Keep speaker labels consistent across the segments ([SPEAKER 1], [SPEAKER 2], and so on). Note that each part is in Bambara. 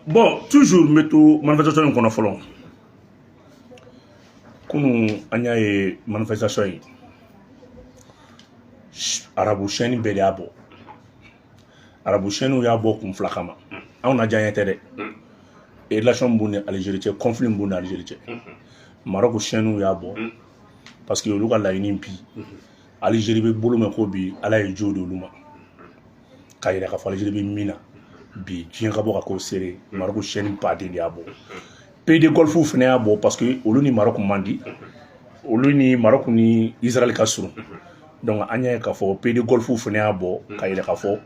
[SPEAKER 1] bon toujours n bɛ to manifestation in kɔnɔ fɔlɔ kunu an y'a ye manifestation in arabu chaîne bɛɛ de y'a bɔ arabu chaînew y'a bɔ kun fila kama anw na diyaɲɛ tɛ dɛ relation b'u ni Algérie cɛ conflit b'u ni Algérie cɛ Maroc chaînew y'a bɔ parce que olu ka laɲini bi Algérie bɛ bolo min kɔ bi ala ye jo di olu ma k'a yira k'a fɔ Algérie bɛ min na bi diɲɛ ka bɔ ka k'o seere Maroc chaîne baden de y'a bɔ pays de Golfe fana y'a bɔ parce que olu ni Maroc man di olu ni Maroc ni Israël ka surun donc an y'a ye k'a fɔ pays de Golfe fana y'a bɔ k'a yira k'a fɔ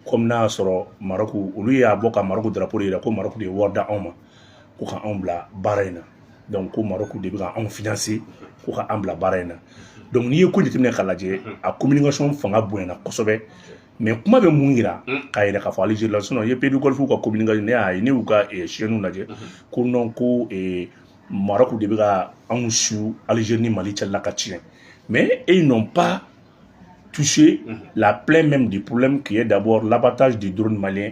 [SPEAKER 1] comme n'a y'a sɔrɔ Maroc olu y'a bɔ ka Maroc drapeau de yira ko Maroc de ye wari da anw ma ko ka anw bila baara in na donc ko maroc de bɛ ka anw financer ko ka an bila baara in na donc n'i ye ko jateminɛ k'a lajɛ a communication fanga bonyana kosɛbɛ mais kuma bɛ mun yira k'a yira k'a fɔ algérie la sinon i ye pays du Golfe ka communication ne y'a ye ne y'u ka chaîne lajɛ ko non ko maroc de bɛ ka anw su algérie ni mali cɛla ka tiɲɛ mais ils n'ont pas touché la plaie même du problème qui est d'abord l'abattage du drone malien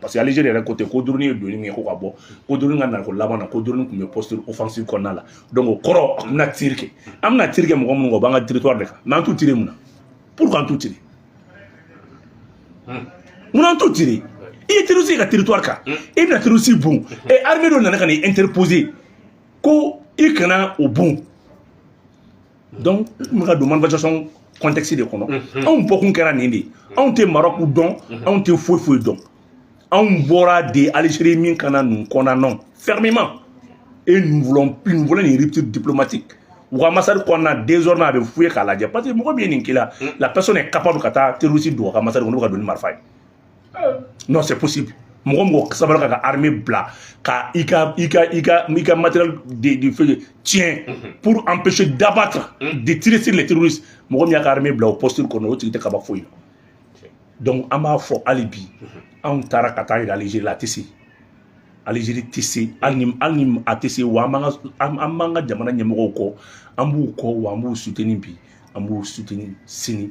[SPEAKER 1] parce que Algérie yɛrɛ côté ko drone ye donni min kɛ ko ka bɔ ko drone ka nako laban na ko drone tun bɛ posture offensive kɔnɔna la donc o kɔrɔ an bɛna tir kɛ an bɛna tir kɛ mɔgɔ minnu kan u b'an ka territoire de kan mais an t'u tirer mun na pourquoi an t'u tirer mun n'an t'u tirer i ye terroriste ye i ka territoire kan i bɛna terroriste bon et armée dɔ nana ka n'i interposer ko i kana o bon donc n bɛ ka don manifestation contexte de kɔnɔ anw bɔkun kɛra nin de ye anw tɛ maroc dɔn anw tɛ foyi foyi dɔn anw bɔra de algérie min ka na nin condamner fermement et nous voulons plus nous voulons une rupture diplomatique u ka ambassade kɔnɔna désormais a bɛ fouiller k'a lajɛ parce que mɔgɔ min ye nin k'i la la personne est capable ka taa terroriste don a ka ambassade kɔnɔ n'u ka don ni marifa ye non c'est possible mɔgɔ mɔgɔ sabara k'a ka armée bila ka i ka i ka i ka i ka matériel de défense tiɲɛ pour empêcher d'abattre de tirer sur les terroristes mɔgɔ min y'a ka armée bila o posture kɔnɔ o tigi tɛ kaba foyi la donc an b'a fɔ hali bi anw taara ka t'a yira Algérie la a tɛ se Algérie tɛ se hali ni hali ni a tɛ se wa an b'an ka an an b'an ka jamana ɲɛmɔgɔw kɔ an b'u kɔ wa an b'u soutenir bi an b'u soutenir sini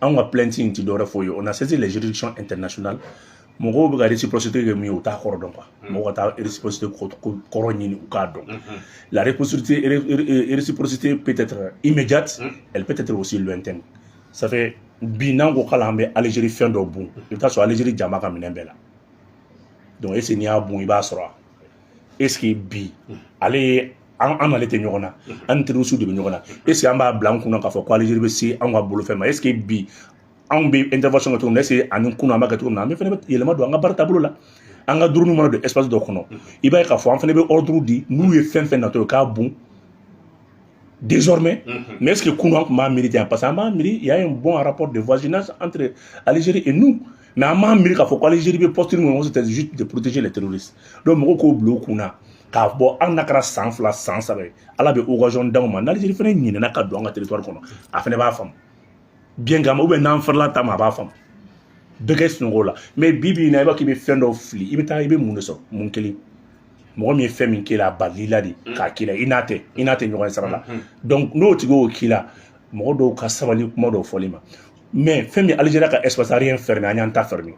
[SPEAKER 1] anw ka plainte in tɛ dɔwɛrɛ foyi ye on a saisi les juridictions internationales mɔgɔw bɛ ka réciprocité kɛ min ye u t'a kɔrɔ dɔn quoi mm. mɔgɔw ka taa réciprocité kɔrɔ ɲini u k'a dɔn mm-hmm. la réciprocité réciprocité peut être immédiate mm. elle peut être aussi lointaine ça fait bi n'an ko k'ala an bɛ Algérie fɛn dɔ bon i bɛ taa sɔrɔ Algérie jama ka minɛn bɛɛ la donc est ce que n'i y'a bon i b'a sɔrɔ est-ce que bi ale ye an an n'ale tɛ ɲɔgɔn na an ni terrorisiw de bɛ ɲɔgɔn na est-ce que an b'a bila an kunna k'a fɔ ko Algérie bɛ se an ka bolofɛn ma est-ce que bi anw bɛ intervention kɛ cogo min na est-ce que ani kunun an b'a kɛ cogo min na an bɛ fana bɛ yɛlɛma don an ka baara taabolo la an ka dronew mana don espace dɔ kɔnɔ i b'a ye k'a fɔ an fana bɛ ordre di n'u ye fɛn fɛn natɔ ye k'a bon désormais mais est-ce que kunun an tun b'a miiri ten parce que an b'a miiri il y a un bon rapport de voisinage entre Algérie et nous mais an b'a miiri k'a fɔ ko Algérie bɛ posture min kɔnɔ c'était juste de protéger les terroristes donc mɔgɔw k'o bila u kun na k'a fɔ hali n'a kɛra san fila san saba ye ala bɛ occasion d'anw ma n'Algérie fana ɲinɛna ka don an ka territoire kɔnɔ a fana b'a faamu bien kama ou bien n'an farila ta ma a b'a faamu bɛɛ kɛ sunɔgɔ la mais bi bi in na i b'a k'i bɛ fɛn dɔw fili i bɛ taa i bɛ mun de sɔrɔ mun kelen mɔgɔ min ye fɛn min k'i la a balili la de mm. k'a k'i la i n'a tɛ i n'a tɛ ɲɔgɔn ye sara la mm-hmm. donc n'o tigi y'o k'i la mɔgɔ dɔw ka sabali kuma dɔw fɔli ma mais fɛn min Algérie y'a ka espace aérien fermé an y'an ta fermé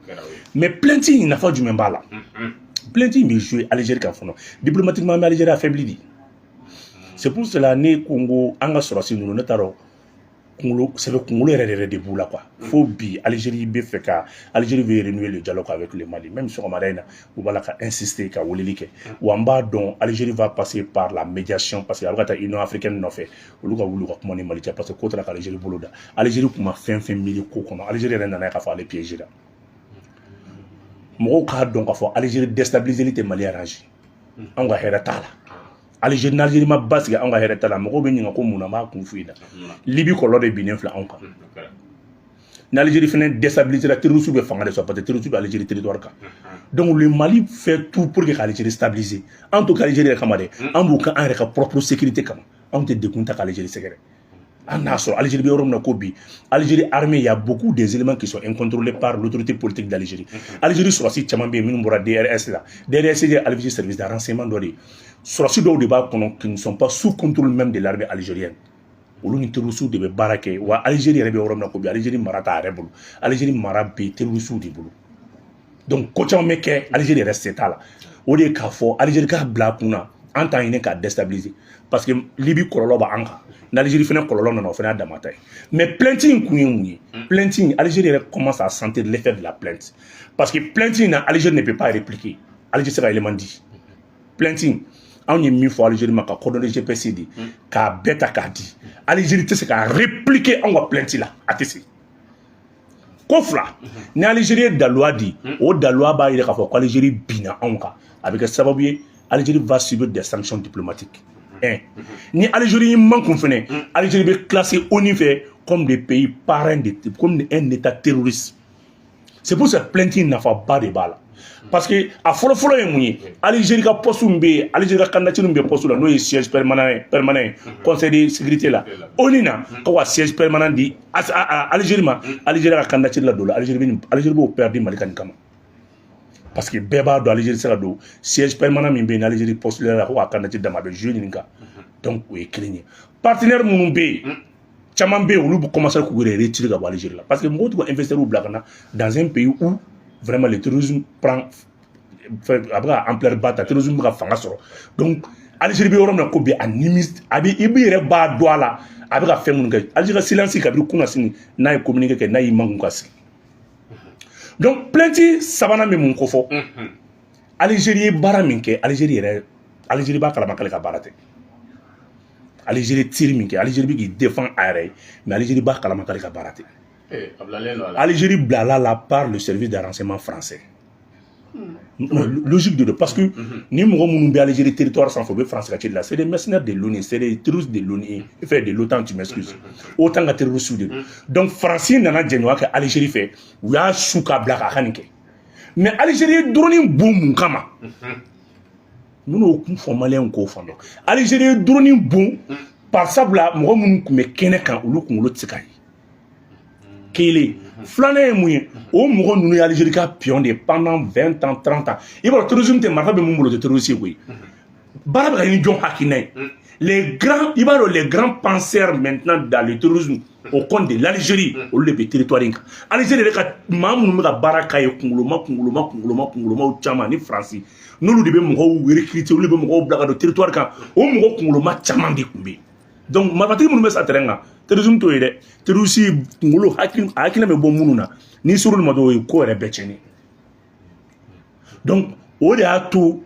[SPEAKER 1] mais plainte in nafa jumɛn b'a la plainte in bɛ jouer Algérie kan fɔlɔ diplomatiquement an bɛ Algérie affaibli de c'est pour cela ne ko n ko an ka sɔrɔsi ninnu ne t'a dɔn kunkolo sɛbɛ kunkolo yɛrɛ yɛrɛ de b'u la quoi fo bi Algérie bɛ fɛ ka Algérie veut renouer le dialogue avec le mali même sɔgɔmada in na u b'a la ka insister ka weleli kɛ wa n b'a dɔn Algérie va passer par la médiation parce que a bɛ ka taa union africaine nɔfɛ olu ka wuli ka kuma ni mali cɛ parce que ko taara ka Algérie bolo da Algérie tun ma fɛn fɛn miiri ko kɔnɔ Algérie yɛrɛ nan'a ye k'a fɔ ale piégéla mɔgɔw k'a dɔn k'a fɔ Algérie déstabiliseli tɛ mali arrange anw ka hɛrɛ t'a la Algérie n'Algérie ma basigi anw ka hɛrɛ t'a la mɔgɔw bɛ ɲininka ko mun na n b'a kun f'u ɲɛna Libye kɔlɔlɔ de binnen filɛ anw kan ni Algérie fana déstabilisera terroriste bɛ fanga de sɔrɔ parce que terroriste bɛ Algérie territoire kan donc le mali fait tout pour que ka Algérie stabiliser an t'o kɛ Algérie yɛrɛ kama dɛ an b'o kɛ an yɛrɛ ka propre sécurité kama anw tɛ degun ta k'Algérie sɛgɛrɛ an n'a sɔrɔ Algérie bɛ yɔrɔ min na ko bi Algérie armée il y a beaucoup des éléments qui sont incontrôlés par l'autorité politique d'Algérie mhm. Algérie sɔrɔsi caman bɛ yen minnu bɔra DRS la DRS ye Algérie service de renseignement dɔ de ye sɔrɔsi dɔw de b'a kɔnɔ qui ne sont pas sous contrôle même de l'armée algérienne olu ni terrorisiw de bɛ baara kɛ wa Algérie yɛrɛ bɛ yɔrɔ min na ko bi Algérie mara t'a yɛrɛ bolo Algérie mara bɛ terrorisiw de bolo donc ko caman bɛ kɛ Algérie yɛrɛ se t'a la o de ye k'a fɔ Algérie k'a bila a kun na an t'a ɲini k'a déstabiliser parce que Libye kɔlɔlɔ b'an kan n'Algérie fana kɔlɔlɔ nana o fana y'an dama ta ye mais plainte in kun ye mun ye mm. plainte in Algérie yɛrɛ commence à sentir l'effet de la plainte parce que plainte in na Algérie ne peut pas répliquer Algérie se ka élément di plainte in anw ye min fɔ Algérie ma ka coordonnées GPS di mm. k'a bɛɛ ta k'a di Algérie tɛ se ka répliquer anw ka plainte la a tɛ se ko fila ni Algérie ye daluya di o daluya b'a yira k'a fɔ ko Algérie binna anw kan a bɛ kɛ sababu ye Algérie va subir des sanctions diplomatiques un ni Algérie y'i mankun fɛnɛ Algérie bɛ classé ONU fɛ comme des pays parrains de comme un état terroriste c'est pour ça plainte nafaba de b'a la parce que a fɔlɔ fɔlɔ ye mun ye Algérie ka poste min bɛ yen Algérie ka candidature min bɛ poste la n'o ye siège permanent ye conseil de sécurité la ONU na ko ka siège permanent di Algérie ma Algérie ka candidature la don la Algérie bɛ Algérie b'o perdu Mali ka nin kama parce que bɛɛ b'a dɔn Algérie tɛ se ka don siège permanent min bɛ yen Algérie postulera la ko ka candidature d'a ma a bɛ jouer nin kan donc o ye kelen ye partenaire minnu bɛ yen caman bɛ yen olu bɛ commencer k'u yɛrɛ retirer ka bɔ Algérie la parce que mɔgɔw tɛ ka investisseurs bila ka na dans un pays où vraiment le terrorisme prend a bɛ ka ampleur ba ta terrorisme bɛ ka fanga sɔrɔ donc Algérie bɛ yɔrɔ min na ko bi a nimisa a bɛ i b'i yɛrɛ b'a dɔn a la a bɛ ka fɛn minnu kɛ Algérie ka silence kabiri kunnasini n'a ye communiqué kɛ n'a y'i mangun ka sigi donc plainte sabanan bɛ mun kofɔ Algérie ye baara min kɛ Algérie yɛrɛ Algérie b'a kalama k'ale ka baara tɛ. Algérie tir min kɛ Algérie bɛ k'i défendre a yɛrɛ ye mais Algérie b'a kalama k'ale ka baara tɛ Algérie bilala la par le service de renseignement français hmm. logique de don parce que hmm. ni mɔgɔ minnu bɛ Algérie territoire sanfɛ u bɛ France ka ci la c'est des mercenaires de l'ONU c'est des terroristes de l'ONU fait de l'OTAN tu m'excuses hmm. OTAN ka terroristes de don donc France nana jɛɲɔgɔnya kɛ Algérie fɛ u y'a su k'a bila k'a ka nin kɛ mais Algérie ye drone bon mun kama minnu y'o kun fɔ maliyɛnw k'o faamu Algérie ye drone bon barisabula mɔgɔ minnu tun bɛ kɛnɛ kan olu kunkolo tɛ se ka ye kelen filanan ye mun ye o mɔgɔ ninnu ye Algérie ka pion de ye pendant vingt ans trente ans i b'a dɔn terrorisme tɛ marifa bɛ min bolo o tɛ terroriste ye koyi baara bɛ ka kɛ ni jɔn hakilina ye les grands i b'a dɔn les grands penseurs maintenant dans le terrorisme au compte de l'Algérie olu de bɛ territoire in kan Algérie yɛrɛ ka maa minnu bɛ ka baara k'a ye kunkoloma kunkoloma kunkoloma kunkolomaw caman ni France n'olu de bɛ mɔgɔw recruter olu de bɛ mɔgɔw bila ka don territoire kan o mɔgɔ kunkoloma caman de tun bɛ yen donc marifatigi minnu bɛ sa terrain kan terrorisme t'o ye dɛ terroriste kunkolo hakili a hakilina bɛ bɔ minnu na n'i ser'olu ma dɔrɔn o ye ko yɛrɛ bɛɛ tiɲɛnen donc o de y'a to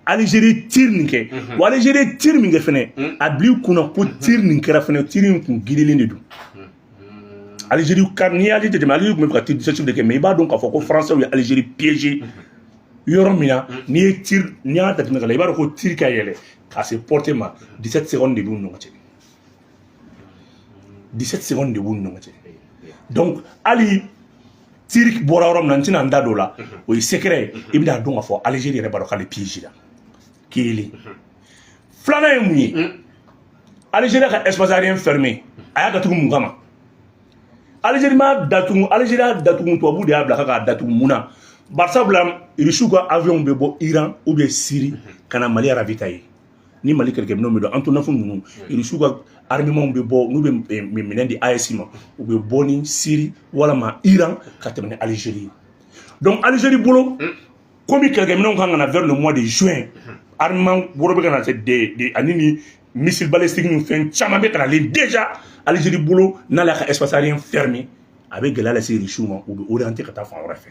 [SPEAKER 1] Algérie tiri nin kɛ wa Algérie tiri min kɛ fɛnɛ a bil'i kunna ko tiri nin kɛra fɛnɛ tiri in kun girilen de don Algérie kari n'i y'ale jateminɛ Algérie tun bɛ ka tiri de kɛ mais i b'a dɔn k'a fɔ ko français ye Algérie piéger yɔrɔ min na n'i ye tiri n'i y'a jateminɛ ka la i b'a dɔn ko tiri ka yɛlɛ ka se portée ma 17 secondes de b'u ni ɲɔgɔn cɛ 17 secondes de b'u ni ɲɔgɔn cɛ donc hali tir bɔra yɔrɔ min na n tɛna n da don o la o ye secret ye i bɛna dɔn k'a fɔ algérie yɛrɛ b'a dɔn k'ale piégé la kelen filanan ye mun ye algérie ka espace aérien fermé a y'a datugu mun kama algérie m'a datugu algérie y'a datugu tubabu de y'a bila k'a datugu mun na barisabula rusiw ka avion bɛ bɔ iran ou bien syrie ka na mali ravitailler ni mali kɛlɛkɛminɛw bɛ don Antonov ninnu irisiw ka armement bɛ bɔ n'u bɛ minɛn di AES ma u bɛ bɔ ni siri walama iran ka tɛmɛ ni alizeri ye donc alizeri bolo komi kɛlɛkɛminɛw kan ka na vers le mois de juin armement wɛrɛ bɛ ka na se de de ani ni missile balistique ni fɛn caman bɛ ka nalen déjà alizeri bolo n'ale y'a ka espace aérien fermé a bɛ gɛlɛya lase irisiw ma u bɛ orienter ka taa fan wɛrɛ fɛ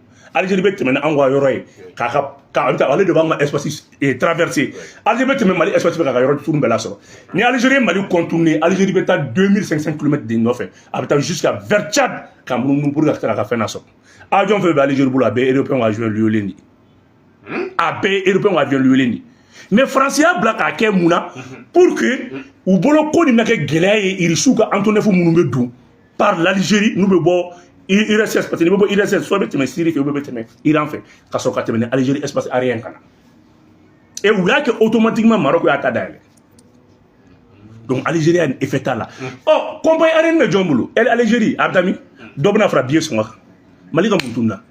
[SPEAKER 1] Algérie bɛ tɛmɛ ni anw ka yɔrɔ ye k'a ka ka an ta ale de b'an ka espace eh, traverser Algérie bɛ tɛmɛ Mali espace fɛ k'a ka yɔrɔ tunu bɛɛ lasɔrɔ ni Algérie ye Mali contourner Algérie bɛ taa 2500 km de nɔfɛ a bɛ taa jusqu'à vers Tchad ka munumunu pour ka se k'a ka fɛn lasɔrɔ avion fɛn fɛn bɛ Algérie bolo a bɛɛ européen ka avion luwelen de ye a bɛɛ ye européen ka avion luwelen de ye mais France y'a bila k'a kɛ mun na pour que u bolo ko nin na kɛ gɛlɛya ye irisiw ka Antonov minnu bɛ don par l'Algérie n'u bɛ bɔ URSS parce que n'i bɛ bɔ URSS soit bɛ tɛmɛ Syrie fɛ ou bɛ tɛmɛ Iran fɛ ka sɔrɔ ka tɛmɛ ni Algérie espace aérien ka na et u y'a kɛ automatiquement Maroc y'a ta dayɛlɛ donc Algérie y'a ni effet t'a la ɔ compagnie aérienne bɛ jɔn bolo Algérie a bɛ taa min dɔ bɛna fara billet sɔngɔ kan Mali ka mun tununna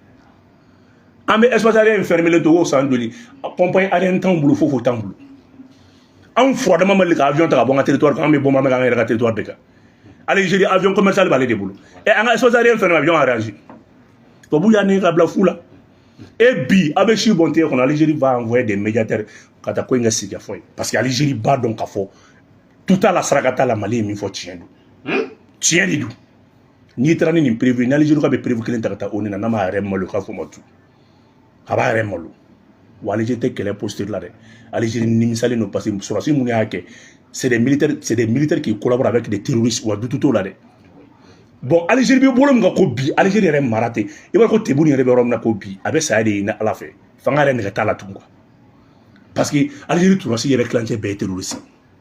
[SPEAKER 1] an bɛ espace aérien fermelen to o san joli compagnie aérienne t'anw bolo foyi foyi t'anw bolo anw furadama ma deli ka avion ta ka bɔ an ka territoire kan an bɛ bombardement kɛ an yɛrɛ ka territoire de kan Algérie avion commercial b'ale de bolo et an ka espace aérien fermé avion arrange tubabu y'a nɛgɛn ka bila fu la e bi a bɛ sɛbɛn tɛgɛ kɔnɔ Algérie va envoyer des médiateurs ka taa ko in kɛ sigikafɔ ye parce que Algérie b'a dɔn k'a fɔ tout à la saraka t'a la Mali ye min fɔ tiɲɛ don tiɲɛ de don n'i taara ni nin preuve ni Algérie ka bɛ preuve kelen ta ka taa ONU na n'a m'a yɛrɛ malo k'a fɔ ma tu a b'a yɛrɛ malo wa alizeri tɛ kɛlɛ posture la dɛ alizeri nimisalen don parce que sɔrɔdasi minnu y'a kɛ c'est des militaires c'est des militaires qui collaborent avec des terroristes wa dutu t'o la dɛ bon alizeri bɛ bolo min kan ko bi alizeri yɛrɛ mara ten i b'a ko Tebboune yɛrɛ bɛ yɔrɔ min na ko bi a bɛ saya de ɲini ala fɛ fanga yɛrɛ nɛgɛ t'a la tugun quoi parce que alizeri sɔrɔdasi yɛrɛ tilancɛ bɛɛ ye terroristes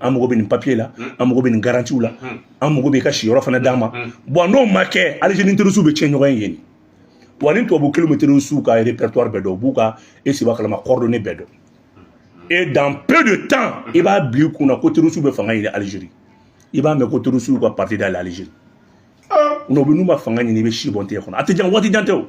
[SPEAKER 1] an mago bɛ nin papiye la an mago bɛ nin garantiw la an mago bɛ i ka siyɔrɔ fana d'an ma bon n'o ma kɛ alizeri ni terɔrisiw bɛ tiɲɛ ɲɔgɔn ye yen wa ni tubabu kelen bɛ terɔrisiw ka répertoire bɛɛ dɔn u b'u ka e seba kalama coordonnées bɛɛ dɔn et dans peu de temps i b'a bila i kunna ko terɔrisiw bɛ fanga ɲini alizeri i b'a mɛn ko terɔrisiw ka parti dayɛlɛ alizeri n'o bɛ n'u ma fanga ɲini i bɛ sɛbɛn tɛgɛ kɔnɔ a tɛ jan waati jan tɛ o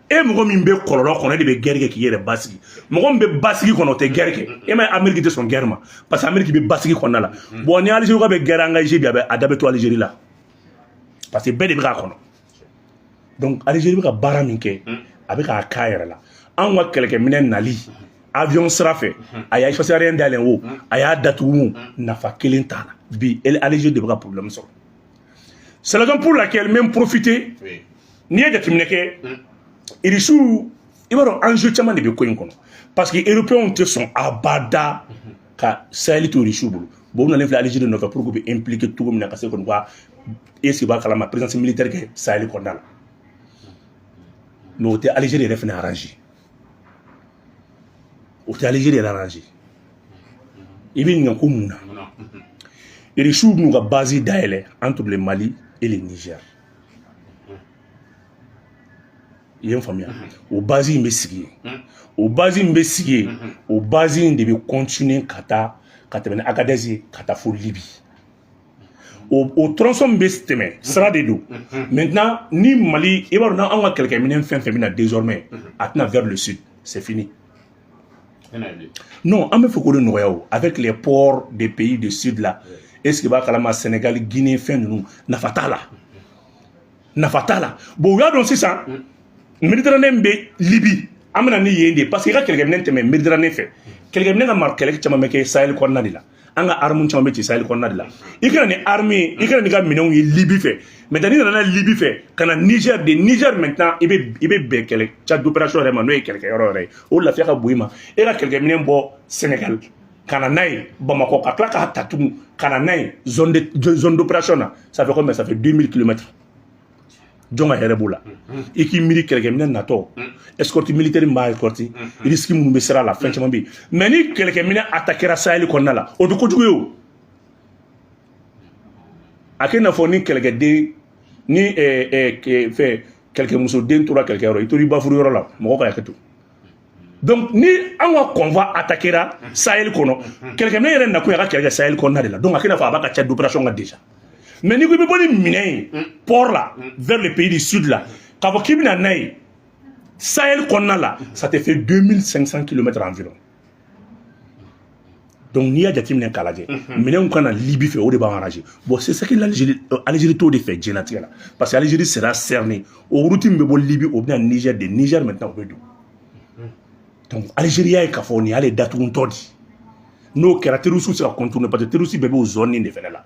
[SPEAKER 1] e mɔgɔ min bɛ kɔlɔlɔ kɔnɔ e de bɛ gɛrɛ kɛ k'i yɛrɛ basigi mɔgɔ min bɛ basigi kɔnɔ o tɛ gɛrɛ kɛ e m'a ye ameriki tɛ sɔn gɛrɛ ma parce que ameriki bɛ basigi kɔnɔna la mm. bon ni alizeri ka bɛ gɛrɛ engager bi a bɛ a da bɛ to alizeri la parce que bɛɛ de bɛ k'a kɔnɔ donc alizeri bɛ ka baara min kɛ mm. a bɛ k'a k'a yɛrɛ la anw ka kɛlɛkɛminɛ nali avion sira fɛ mm-hmm. a y'a espace aérien dayɛlɛ o mm. a y'a datugu nafa kelen t'a la bi alizeri de bɛ ka problème sɔrɔ C'est la raison pour laquelle même profiter n'i ye jateminɛ kɛ irisiw i b'a dɔn enjeu caman de bɛ ko in kɔnɔ parce que européens tɛ sɔn abada ka sahel to irisiw bolo bon u nalen filɛ Algérie nɔfɛ pour que u bɛ impliquer cogo min na ka se kɔni ka est-ce que i b'a kalama présence militaire kɛ sahel kɔnɔna la mais o tɛ Algérie yɛrɛ fana arranger o tɛ Algérie yɛrɛ arranger i bɛ ɲininka ko mun na irisiw b'u ka base dayɛlɛ entre le Mali et le Niger i ye n faamuya o base in bɛ sigi yen o base in bɛ sigi yen o base in de bɛ continuer ka taa ka tɛmɛ ni Agadez ye ka taa fo Libye o o tronçon min bɛ tɛmɛ sira de don maintenant ni mali i b'a dɔn n'anw ka kɛlɛkɛminɛn fɛn fɛn bɛ na désormais a tɛ na vers le sud c'est fini non an b'a fɛ k'o de nɔgɔya o avec les ports des pays du sud là est-ce que i b'a kalama sénégal guinée fɛn ninnu nafa t'a la nafa t'a la bon u y'a dɔn sisan méditerranée bɛ Libye an bɛ na ni yen de parce que i ka kɛlɛkɛminɛn tɛmɛ méditerranée fɛ kɛlɛkɛminɛn ka mara kɛlɛ caman bɛ kɛ sahel kɔnɔna de la an ka armes caman bɛ ci sahel kɔnɔna de la i ka na ni armes ye i ka na n'i ka minɛnw ye Libye fɛ maintenant n'i nana Libye fɛ ka na niger de niger maintenant i bɛ i bɛ bɛn kɛlɛ champ d'opération yɛrɛ ma n'o ye kɛlɛkɛyɔrɔ yɛrɛ ye o lafiya ka bon i ma e ka kɛlɛkɛminɛn bɔ sénégal ka na n'a ye bamakɔ ka tila k'a ta tugun ka na n'a ye zone d'opération na ça fait combien ça fait 2000 kilomètres jɔn ka hɛrɛ b'o la i k'i miiri kɛlɛkɛminɛ natɔ escorte militaire min b'a escorte risque minnu bɛ sira la fɛn caman bɛ yen mais ni kɛlɛkɛminɛ attaquera sahel kɔnɔna la o tɛ kojugu ye o a kɛ i n'a fɔ ni kɛlɛkɛden ni fɛn kɛlɛkɛmusoden tora kɛlɛkɛyɔrɔ i tora i bafuru yɔrɔ la mɔgɔ ka hakɛ to donc ni an ka convoi attaquera sahel kɔnɔ kɛlɛkɛminɛ yɛrɛ nakun y'a ka kɛlɛ kɛ sahel kɔnɔna de la donc a kɛ i n'a fɔ a b'a ka champ d'opération kan déjà mais n'i ko i bɛ bɔ ni minɛn ye port la vers le pays du sud la k'a fɔ k'i bɛ na n'a ye sahel kɔnɔna la ça te fait 2500 km environ donc n'i y'a jateminɛ k'a lajɛ minɛnw ka na Libye fɛ o de b'an arranger bon c'est ça que l'Algérie euh, Algérie t'o de fɛ diɲɛnatigɛ la parce que Algérie sera cernée o route min bɛ bɔ Libye o bɛ na Niger de Niger maintenant o bɛ don donc Algérie y'a ye k'a fɔ nin y'ale datugutɔ de ye n'o kɛra terroriste bɛ se ka contourner parce que terroriste bɛɛ b'o zone in de fɛnɛ la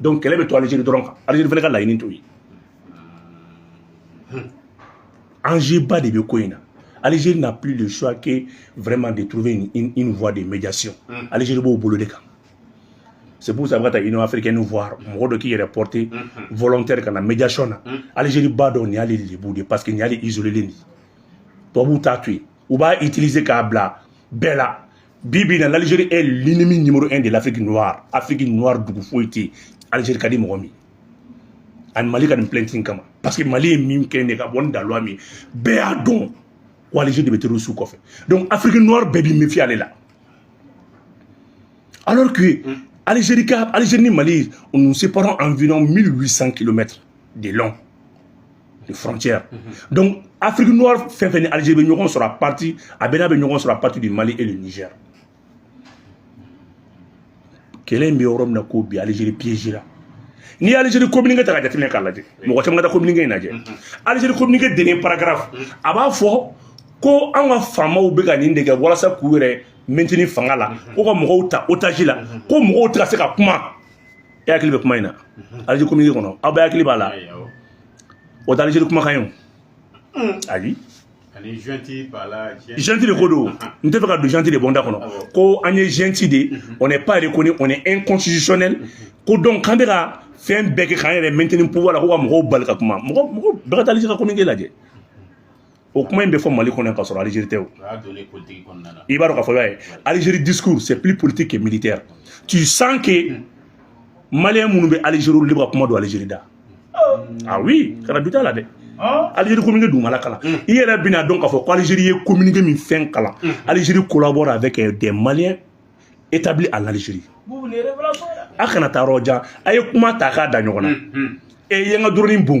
[SPEAKER 1] donc kɛlɛ bɛ to Algérie dɔrɔn kan Algérie fana ka laɲini t'o ye enjeuba de bɛ ko in na Algérie n'a plus le choix que vraiment de trouver une, une, une voie de médiation. Mm. Algérie b'o bolo de kan. C'est pour ça a bɛ ka taa Union africaine voir mɔgɔ dɔ k'i yɛrɛ porter mm-hmm. volontaire ka na médiation na. Mm. Algérie b'a dɔn nin y'ale lebu de parce que nin y'ale isolélen de ye. Tubabuw t'a to yen. u b'a utiliser k'a bila bɛɛ la bi bi in na l'Algérie est l'ennemi numéro un de l'Afrique noire Afrique noire dugu foyi tɛ yen Algérie ka di mɔgɔ min ani Mali ka nin plainte in kama parce que Mali ye min kɛ ne ka bɔ ni daloya min bɛɛ y'a dɔn ko Algérie de bɛ terroriste kɔfɛ donc Afrique noire bɛɛ b'i méfier ale la alors que mm. Algérie ni Mali nous séparons environ 1800 kilomètres de long de frontières. Mm -hmm. Donc, Afrique noire fɛn fɛn ni Algérie bɛ ɲɔgɔn sɔrɔ à partir, a bɛɛ n'a bɛ ɲɔgɔn sɔrɔ à partir du Mali et du Niger. Kɛlɛ in bɛ yɔrɔ min na ko bi Algérie piégera n'i ye Algérie communiqué ta ka jateminɛ k'a lajɛ mɔgɔ caman ka taa communiqué in lajɛ Algérie mhm. communiqué dernier paragraphe mhm. a b'a fɔ ko an ka faamaw bɛ ka nin de kɛ walasa k'u yɛrɛ maintenir fanga la mhm. ko ka mɔgɔw ta otage la ko mɔgɔw tɛ ka se ka kuma e hakili bɛ kuma in na Algérie communiqué kɔnɔ aw bɛɛ hakili b'a la o tɛ Algérie kumakan ye o hmm. ayi junte de ko don n tɛ fɛ ka don junte de bɔ n da kɔnɔ ko an ye junte de mhm. on n'est pas reconnu on est inconstitutionnel mhm. ko donc k'an bɛ ka fɛn bɛɛ kɛ k'an yɛrɛ maintenir pouvoir la ko ka mɔgɔw bali ka kuma mɔgɔ mɔgɔ bɛɛ ka taa Algérie ka communiqué lajɛ o kuma in bɛ fɔ mali kɔnɔ k'a sɔrɔ Algérie tɛ o i b'a dɔn k'a fɔ y'a ye Algérie discours c'est plus politique que militaire tu sens que Maliens minnu bɛ Algérie olu de bɛ ka kuma don Algérie da ah oui kana doute a la dɛ Algérie communiqué dugumala kalan i yɛrɛ bɛn'a dɔn k'a fɔ ko Algérie ye communiqué min fɛn kalan Algérie collabore avec des maliens établis à l'algérie a kana taa yɔrɔ jan a ye kuma ta k'a da ɲɔgɔn na e ye n ka dɔrɔnin bon